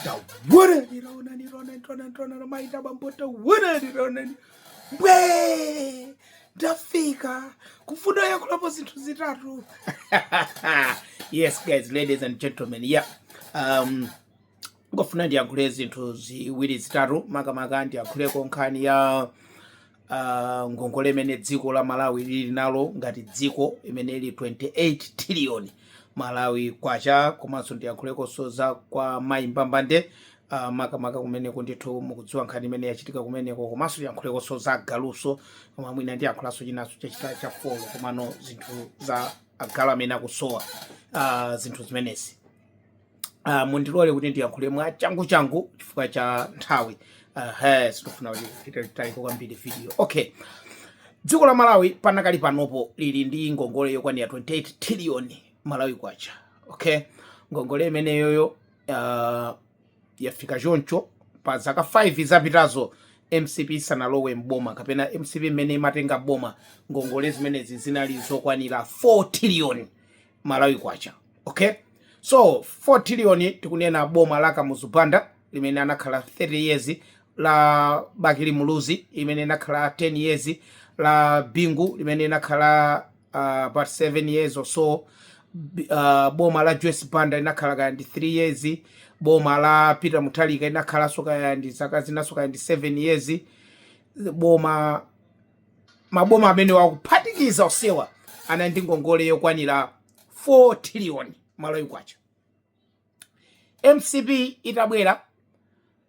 Tawonani, tawonani, tawonani, tawonani, tawonani, maita bambo, tawonani, tawonani. Mbwe! Ndafika kufuna kuyankhulapo zinthu zitatu. Yes guys, ladies and gentlemen, yeah. Um, ndikufuna ndiyankhule zinthu ziwiri zitatu makamaka ndiyankhuleko nkhani ya uh, ngongole imene dziko la malawi lili nalo ngati dziko imene ili 28 trillion malawi kwacha komanso ndiyankhulekonso za kwa mayi mbambande uh, makamaka kumeneko ndithu mukudziwa nkhani imene yachitika kumeneko komanso ndiyankhulekonso za agalunso koma mwina ndiyankhulanso chinanso chachita cha folo komano zinthu za agalu amene akusowa uh, zinthu zimenezi uh, mundilole kuti ndiyankhule mwa changu changu chifukwa cha nthawi uh, sitikufuna kuti titalike kwambiri video okay dziko la malawi panakali panopo lili ndi ngongole yokwanira 28 trillion malawi kwacha okay ngongole imeneyoyo uh, yafika choncho pa zaka 5 zapitazo mcp isanalowe mboma kapena mcp mmene imatenga boma ngongole zimenezi zinali zokwanira 4 trillion malawi kwacha okay so 4 trillion tikunena boma la kamuzu banda limene anakhala 30 years la bakili muluzi imene inakhala 10 years la bingu limene inakhala uh, about 7 years or so B- uh, boma la joyce banda linakhala kaya ndi 3 years boma la peter mutharika inakhalanso kaya ndi zaka zinanso kaya ndi 7 years boma Maboma amenewa kuphatikiza onsewa anali ndi ngongole yokwanira 4 trillion Malawi Kwacha. Mcp itabwera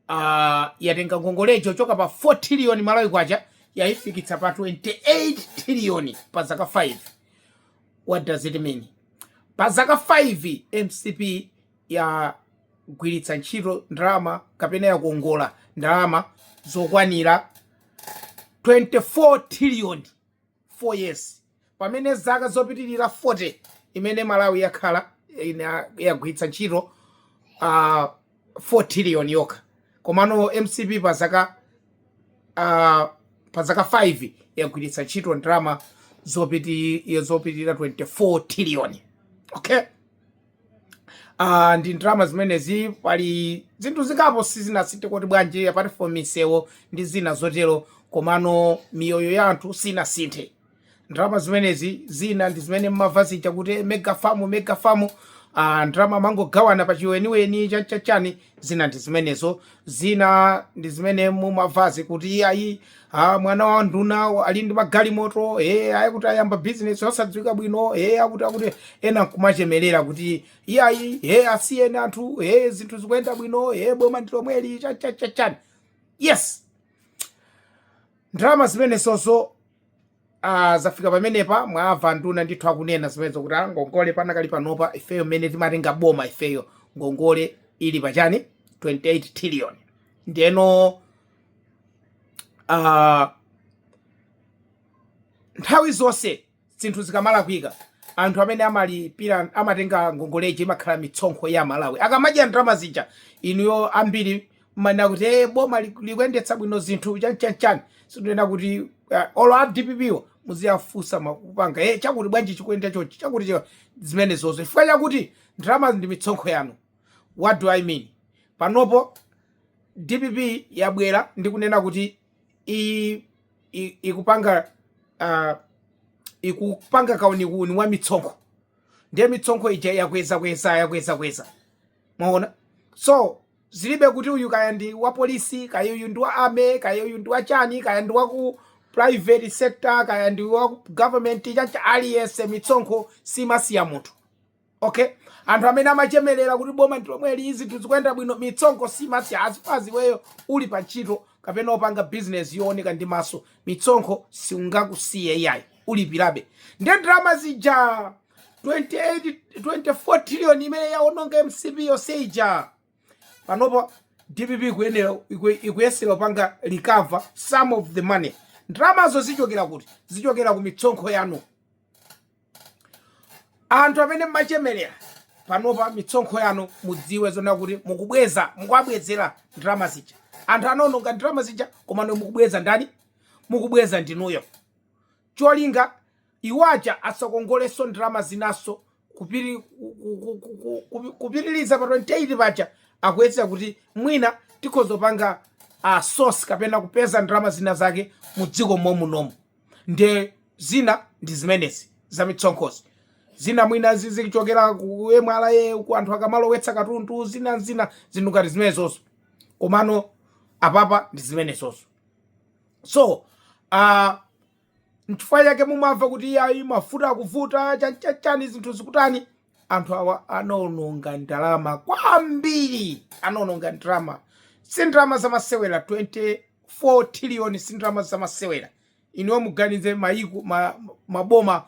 uh, yatenga ngongolejo kuchoka pa 4 trillion Malawi Kwacha yaifikitsa pa 28 trillion pa zaka 5. What does it mean? Pa zaka 5 mcp yagwiritsa ntchito ndalama kapena yakongola ndalama zokwanira 24 trillion 4 years pamene zaka zopitilira 40 imene Malawi yakhala yagwiritsa ntchito uh, 4 trillion yokha komano mcp pa zaka uh, pa zaka 5 yagwiritsa ntchito ndalama zopiti zopitilira 24 trillion okay Ah, ndi ndalama zimenezi pali zinthu zingapo sizinasinthe kuti bwanji apart from misewo ndi zina zotero komano miyoyo ya anthu sinasinthe ndalama zimenezi zina ndi zimene mumamva zija kuti mega farm mega farm ah, ndalama amangogawana pa chiweniweni chachachani zina ndi zimenezo zina ndi zimene mumamvazi kuti ayi ah, mwana wa anduna ali ndi magalimoto e eh, ayi kuti ayamba bizinesi osadziwika bwino e eh, akuti akuti ena nkumachemerera kuti iyayi e asiyeni anthu e zinthu zikuyenda bwino e boma ndi lomweli chachachachani yes ndalama zimenezozo Ah, zafika pamenepa mwamva anduna ndithu akunena zimenezo kuti ah, ngongole panakali panopa ifeyo mmene timatenga boma ifeyo ngongole ili pachani 28 trillion ndeno ah, nthawi zonse zinthu zikamalakwika anthu amene amalipira amatenga ngongoleji imakhala mitsonkho ya aMalawi akamadya ndalama zija inuyo ambiri mmanena kuti e boma likuyendetsa bwino zinthu chanchanchani sikunena kuti uh, olo a dppo muziyafunsa mukupanga e eh, chakuti bwanji chikuyenda chonchi chakuti chika zimenezozo chifukwa chakuti ndalama ndi mitsonkho yanu what do i mean panopo dpp yabwera ndi kunena kuti ikupanga uh, ikupanga kauniuni wa mitsonkho ndiye mitsonkho ija yakweza kweza yakweza kweza mwaona so Zilibe kuti uyu kaya ndi wa police, kaya uyu ndi wa army, kaya uyu ndi wa chani, kaya ndi wa ku private sector, kaya ndi wa ku government, chancha aliyense mitsonkho siimasiya munthu. Okay? Anthu amene amachemerera kuti boma ndi lomweli zinthu zikuyenda bwino, mitsonkho siimasiya as far as iweyo uli pa ntchito kapena opanga business yooneka ndi maso, mitsonkho siungakusiye iyayi, ulipirabe. Ndiye ndalama zija 28 24 trillion imene yaononga mcp yonse ija panopo dpp ikuye- iku- ikuyesera kupanga recover some of the money ndalamazo zichokera kuti zichokera ku mitsonkho yanu anthu amene mmachemerera panopa mitsonkho yanu mudziwe zona kuti mukubweza mukuwabwezera ndalama zija anthu anaononga ndalama zija komano mukubweza ndani mukubweza ndinuyo cholinga Iwo aja asakongolenso ndalama zinanso kupitiliza pa 28 paja akuyesera kuti mwina tikhoza kupanga source kapena kupeza ndalama zina zake mu dziko momunomu nde zina ndi zimenezi za mitsonkhozi zina mwina zizichokera ku MRA ku anthu akamalowetsa katundu zina zina zinthu ngati zimenezozo komano apapa ndi zimenezozo so uh, Nchifukwa chake mumamva kuti iyayi mafuta akuvuta, chan chan chani zinthu zikutani. Anthu awa anaononga ndalama kwambiri, anaononga ndalama. Si ndalama zamasewera 24 trillion si ndalama zamasewera. Inuyo muganize mayiko ma, maboma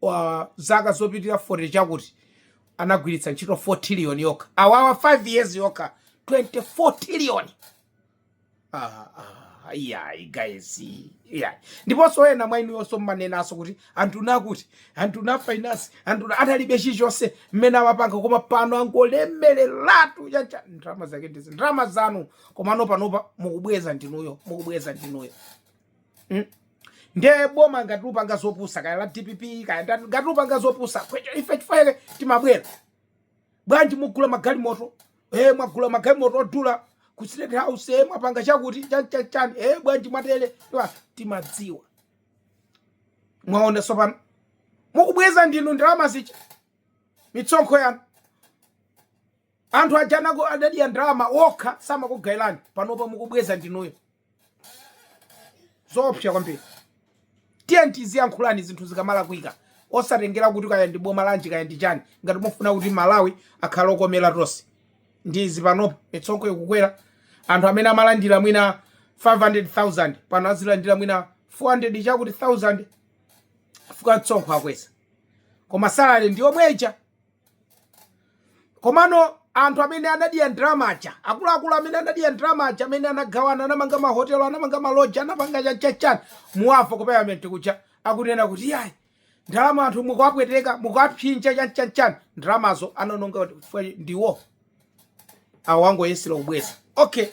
wa zaka zopitirira 40 chakuti anagwiritsa ntchito 4 trillion yokha. Awawa 5 years yokha 24 trillion. Ah, ah, iyayi guys iyayi ndiponso ena mwa inu yonse mmanenanso kuti anthu nakuti anthu na finance anthu na- atalibe chilichonse mmene amapanga koma pano angolemereratu chancha ndalama zake ndizi ndalama zanu komano panopa mukubweza ndinuyo mukubweza ndinuyo Mm. ndiye boma ngati likupanga zopusa kaya la dpp kaya ndani, ngati likupanga zopusa kwecho ife chifukwa chake timabwera bwanji mugula magalimoto eh mwagula magalimoto odula ku state house eh mwapanga chakuti chan chan chan eh bwanji mwatele Iwa, timadziwa mwaona sopano mukubweza ndinu ndalama zija misonkho yanu anthu ajanako adadya ndalama okha sanakugaileni panopa mukubweza ndinuyo zoopsa kwambiri tiyeni tiziyankhulani zinthu zikamalakwika osatengera kuti kaya ndi boma lanji kaya ndi chani ngati mufuna kuti malawi akhale okomera tonse ndi izi panopa misonkho ikukwera anthu amene amalandira mwina 500000 pano azilandira mwina 400 chakuti 1000 fukwa msonkho akweza koma salary ndi yomweja komano anthu amene anadya ndalama aja akuluakulu amene anadya ndalama aja amene anagawana anamanga mahotelo anamanga maloji anapanga chanchanchani muwamva kupaliyamenti kuja akunena kuti yayi ndalama anthu mukuwapweteka mukuwapsinja chanchanchani ndalamazo anaononga ndiwo awa ndi oyenera kubweza okay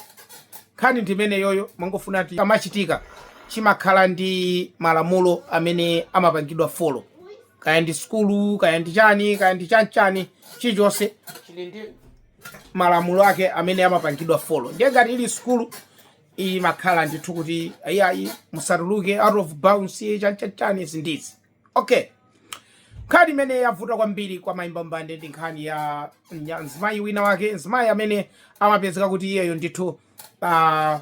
nkhani ndi imeneyoyo mangofuna kuti chimachitika chimakhala ndi malamulo amene amapangidwa folo kaya ndi sukulu kaya ndi chani kaya ndi chanchani chilichonse chili ndi malamulo ake amene amapangidwa folo ndiye ngati ili sukulu imakhala ndithu kuti ayiayi musatuluke out of bounds chanchachani izi ndizi Ok, nkhani imene yavuta kwambiri kwa mayi Mbambande ndi nkhani ya nya- mzimayi wina wake, mzimayi amene amapezeka kuti iyeyo ndithu ah,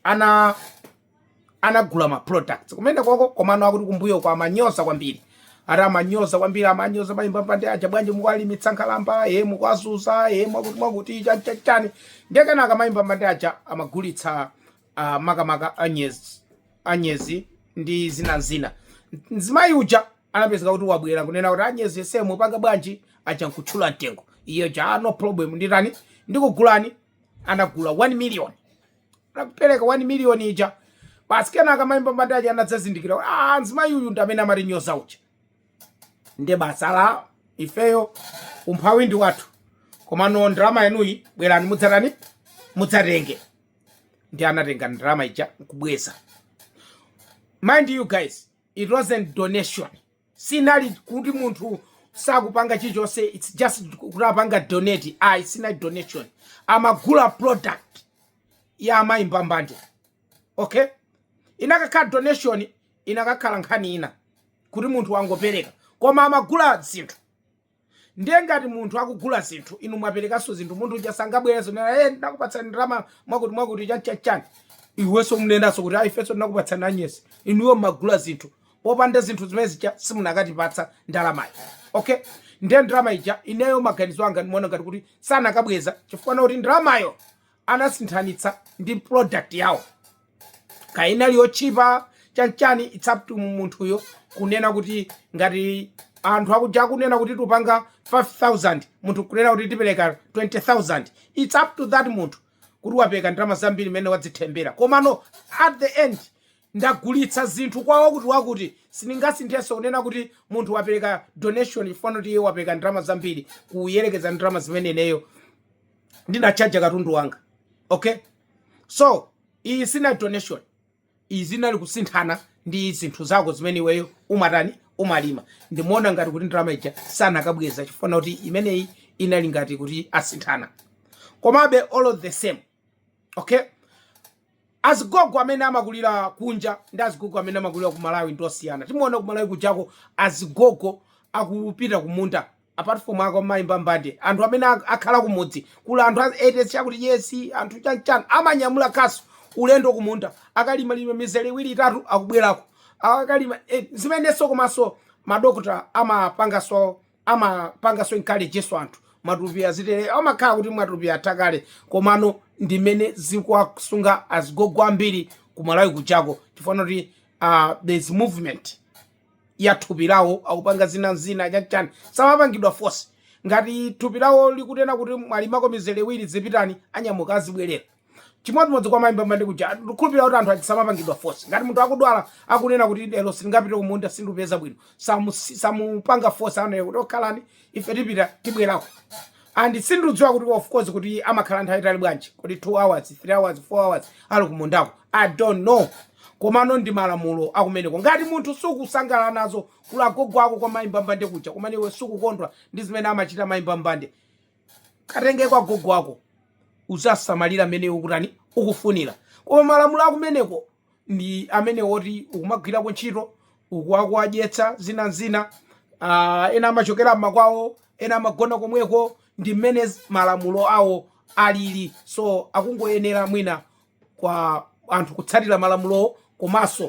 ana anagula ma products kumene koko komano akuti kumbuyoku amanyoza kwambiri ati amanyoza kwambiri amanyoza mayi Mbambande aja bwanji mukwalimitsa nkhalamba ye mukwazuza ye mwakuti mwakuti chani chani chani ndiye kenaka mayi Mbambande aja amagulitsa uh, makamaka anyezi anyezi ndi zina zina mzimayi uja anapezeka kuti wabwera kunena kuti anyezi yese mupanga bwanji aja nkutchula mtengo iye uja "Ah, no problem nditani ndikugulani anagula 1 million anapereka 1 million ija basi kenaka mayi mbambande aja anadzazindikira kuti ah mzimayi uyu ndi amene amatinyoza uja nde basi ife ifeyo umphawi ndi wathu komano ndalama yanuyi bwerani mudzatani mudzatenge ndi anatenga ndalama ija nkubweza mind you guys it wasn't donation sinali kuti munthu sakupanga chilichonse its just kuti apanga donate ayi sinali donation amagula product ya mayi mbambande okay inakakhala donation inakakhala nkhani ina kuti munthu wangopereka koma amagula zinthu Ndiye ngati munthu akugula zinthu, inu mwaperekanso zinthu, munthu uja sangabwerenso kunena, hey, eh, ndinakupatsani ndalama mwakuti mwakuti chani chani chani. Iwenso umunenanso kuti ayi, ifenso tinakupatsani anyezi. Inuyo mmagula zinthu popanda zinthu zimene zija simunakatipatsa ndalamayi. Okay, ndiye ndalama ija ineyo maganizo anga ndimaona ngati kuti sanakabweza chifukwa kuti ndalamayo anasinthanitsa ndi product yawo. kaya inali yotchipa chanchani it's up to munthuyo kunena kuti ngati anthu akunja akunena kuti tupanga 5000 munthu kunena kuti tipereka 20000 it's up to that munthu kuti wapereka ndalama zambiri mmene wadzimvera komano at the end ndagulitsa zinthu kwa wakuti wakuti sindingasinthenso kunena kuti munthu wapereka donation chifukwa kuti iye wapereka ndalama zambiri kuyerekeza ndalama zimene ineyo ndinatchaja katundu wanga okay so iyi sinali donation iyi zinali kusinthana ndi zinthu zako zimene iweyo umatani umalima ndimuona ngati kuti ndalama ija sanakabweza chifukwa kuti imeneyi inali ngati kuti asinthana komabe all of the same okay azigogo amene amakulira kunja ndi azigogo amene amakulira ku malawi ndi osiyana timaona ku malawi kujako azigogo akupita kumunda apart from ako mayi mbambande anthu amene ak- akhala kumudzi kuli anthu a eighty chakuti years anthu chanchan amanyamula kasu ulendo kumunda akalima lima mizere iwiri itatu akubwerako akalima eh, zimenenso komanso madokota amapangaso amapangaso encourageso anthu matupi azitere amakhala kuti matupi atakale komano ndimene zikuwasunga azigogo ambiri kumalawi kujako chifukwa kuti uh, there's movement ya thupi lawo akupanga zina ndi zina chanchani samapangidwa force ngati thupi lawo likunena kuti mwalimako mizere iwiri zipitani anyamuka azibwerera chimodzimodzi kwa mayi mbambande kuja ndikhulupirira kuti anthu aja samapangidwa force ngati munthu akudwala akunena kuti lero sindingapite kumunda sindupeza bwino samu- samupanga force anayo kuti okhalani ife tipita tibwerako and sindikudziwa kuti of course kuti amakhala nthawi itali bwanji kodi 2 hours 3 hours 4 hours ali kumundako i don't know komano ndi malamulo akumeneko ngati munthu sukusangalala nazo kuli agogo ako kwa mayi mbambande kuja komano iwe sukukondwa ndi zimene amachita mayi mbambande katengeko agogo ako uziwasamalira mmene ukutani ukufunira koma malamulo akumeneko ndi amene woti ukumagwirako ntchito ukuwakuwadyetsa zina nzina uh, ena amachokera mmakwawo ena amagona komweko ndi mmene malamulo awo alili so akungoyenera mwina kwa anthu kutsatira malamulowo komanso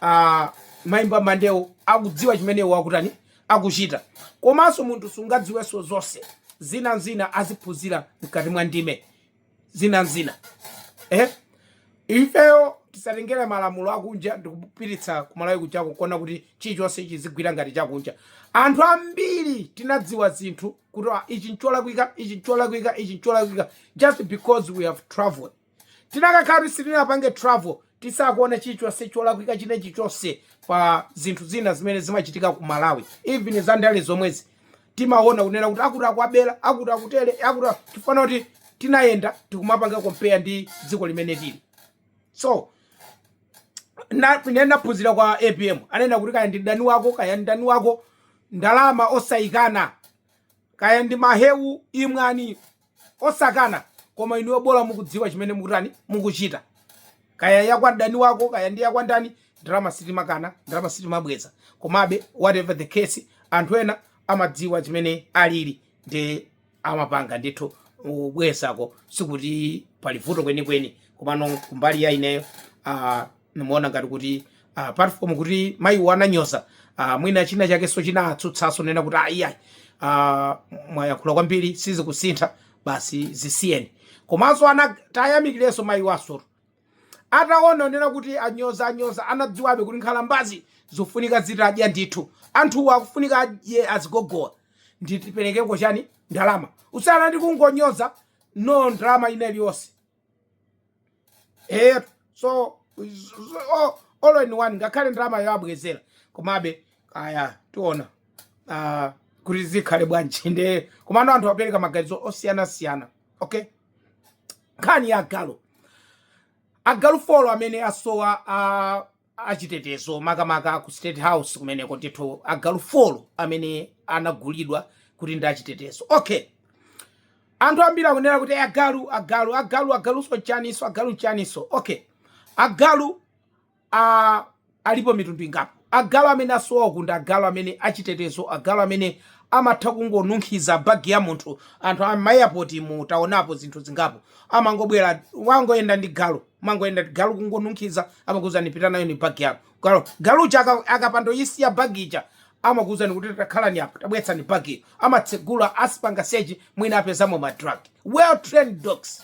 uh, mayi mbambandewo akudziwa chimene iwo akutani akuchita komanso munthu sungadziwenso zonse zina nzina aziphunzira mkati mwa ndime zina zina eh? ifeyo tisatengere malamulo akunja ndikupititsa kumalawi kujako kuona kuti chilichonse chizigwira ngati chakunja anthu ambiri tinadziwa zinthu kuti ah, ichi ncholakwika ichi ncholakwika ichi ncholakwika just because we have traveled tinakakhala kuti sitinapange travel sitikanaona chilichonse cholakwika chinachilichonse pa zinthu zina zimene zimachitika ku malawi even za ndale zomwezi timaona kunena kuti akutibela akutitele akuti- chifukwa kuti tinayenda tikumapanga compare ndi dziko limene tili so na- ine ndaphunzira kwa apm anena kuti kaya ndi mdani wako kaya ndi mdani wako ndalama osayikana kaya ndi mahewu imwani osakana koma inuyo bola mukudziwa chimene mukutani mukuchita kaya yakwa mdani wako kaya ndi yakwa ndani ndalama sitimakana ndalama sitimabweza komabe whatever the case anthu ena amadziwa chimene alili ndi amapanga ndithu kubwezako sikuti pali vuto kwenikweni komano kumbali ya ineyo ah, nimuona ngati kuti uh, apart from kuti mayiwo ananyoza uh, mwina china chakenso chinatsutsaso nena kuti ayiayi uh, ah, mwayankhula kwambiri sizikusintha basi zisiyeni komanso tiwayamikilenso mayiwo asoro ataona onena kuti anyoza anyoza anadziwabe kuti nkhalambazi zofunika zitadya ndithu anthuwo akufunika adye azigogowa nditiperekeko chani ndalama kusiyana ndi kungonyoza no ndalama ina iliyonse eya so all in one ngakhale ndalama yo abwezera komabe kaya tiona ah, kuti zikhale bwanji nde komano anthu apereka maganizo osiyanasiyana okay nkhani ya agalu agalu folo amene asowa a achitetezo makamaka aku state house kumeneko ndithu agalu folo amene anagulidwa kuti ndi achitetezo okay anthu ambiri akunena kuti agalu agalu agalu agaluso nchaniso agalu nchaniso okay agalu a alipo mitundu ingapo agalu amene asowa ku ndi agalu amene achitetezo agalu amene amatha kungonunkhiza bagi ya munthu anthu amayapoti mu taonapo zinthu zingapo amangobwera wangoyenda ndi galu wangoyenda ndi galu kungonunkhiza amakuuzani pita nayoni bag yako galu galu uja aka- akapando isiya bag ija amakuuzani kuti takhalani apa tabweretsani bag iyo amatsegula azipanga sechi mwina apezamo ma drug well trained dogs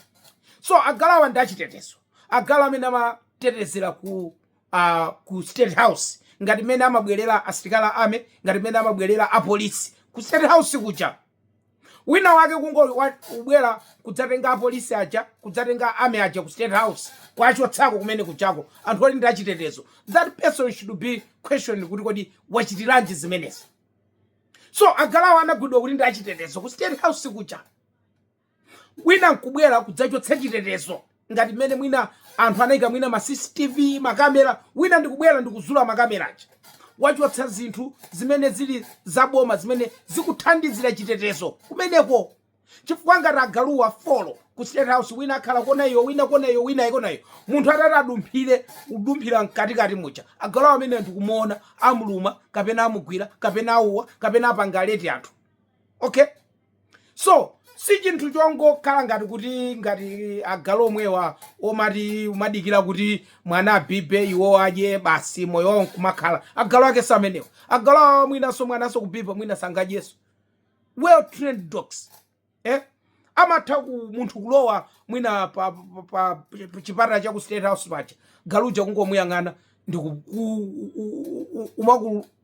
so agaluwa ndi achitetezo agalu amene amatetezera ku uh, ku state house ngati mmene amabwerera asilikali a army ngati mmene amabwerera apolisi ku state house kuja Wina wake kungo wa, kubwela kudzatenga apolisi aja kudzatenga army aja ku state house kuachotsako kumene kujako anthu oti ndi achitetezo that person should be questioned kuti kodi wachitilanji zimenezi so agaluwo anagulidwa kuti ndi achitetezo ku state house kuja wina nkubwela kudzachotsa chitetezo ngati mmene mwina anthu anaika mwina ma CCTV makamera wina ndikubwera ndikuzula makamera aja wachotsa zinthu zimene zili zaboma zimene zikuthandizira chitetezo kumeneko chifukwa ngati agaluwa folo ku state house wina akhala kona iyo wina kona iyo wina kona iyo munthu atati adumphire kudumphira mkatikati muja agaluwa amene ndikumuona amuluma kapena amugwira kapena auwa kapena apanga alert anthu okay so si chinthu chongokhala ngati kuti ngati agalu omwewa omati umadikira kuti mwana abibe iwo adye basi moyo wawo nkumakhala agalu ake si amenewo agalu awa mwinanso mwananso kubiba mwina sangadyenso well trained dogs eh? amatha ku munthu kulowa mwina pa, pa, pa, pa chipata cha ku state house paja galuja kungomuyang'ana ndikumakulu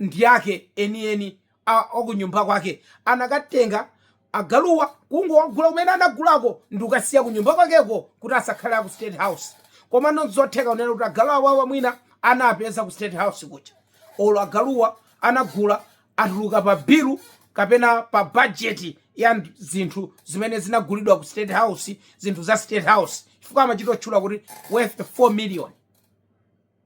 ndi ake enieni a- akunyumba kwake anakatenga agaluwa kungowagula kumene anagulako ndi kukasiya kunyumba kwakeko kuti asakhale aku state house komano nzotheka kunena kuti agalu awawa mwina anapeza ku state house kuja olo agaluwa anagula atuluka pa bilu kapena pa bajeti ya nd- zinthu zimene zinagulidwa ku state house zinthu za state house chifukwa amachitotchula kuti worth 4 million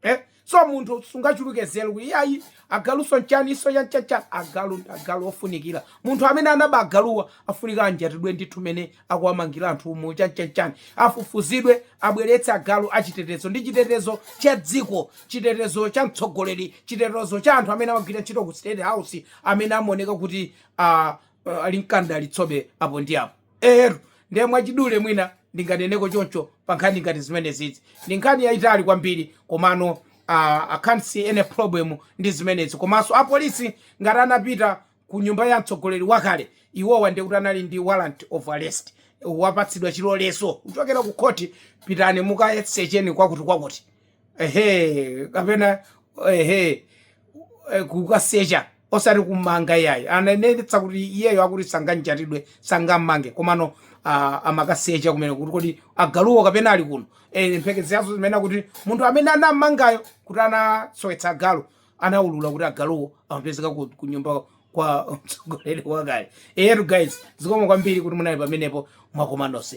eh? so munthu sungachuluke zelu kuti ayi agaluso nchaniso chanichani agalu agalu ofunikira munthu amene anaba agaluwa afunika anjatidwe ndithu mene akuwamangira anthu umo chanichani afufuzidwe abweretse agalu achitetezo ndi chitetezo cha dziko chitetezo cha mtsogoleri chitetezo cha anthu amene amagwira ntchito ku state house amene amaoneka kuti uh, uh, ali mkanda alitsobe apo ndi apo Eeetu, ndiye mwachidule mwina ndinganeneko choncho pa nkhani ngati zimenezizi. Ndi nkhani yayitali kwambiri komano ah, I can't see any problem ndi zimenezi. Komanso apolisi ngati anapita ku nyumba ya mtsogoleri wakale, iwowa ndiye kuti anali ndi warrant of arrest, wapatsidwa chilolezo kuchokera ku khoti, pitani mukasecheni kwakutikwakuti. ehe kapena ehe eh, kukasecha osati kumanga iyayi ananenetsa kuti iyeyo akuti sanganjatidwe sangammange komano ah, amakasecha kumene kuti kodi agaluwo kapena ali kuno eh, mphekesera zozimene kuti munthu amene anammangayo kuti anasowetsa agalu anaulula kuti agaluwo amapezeka ku, ku nyumba kwa mtsogoleri wakale eyetu guys zikomo kwambiri kuti munali pamenepo komanso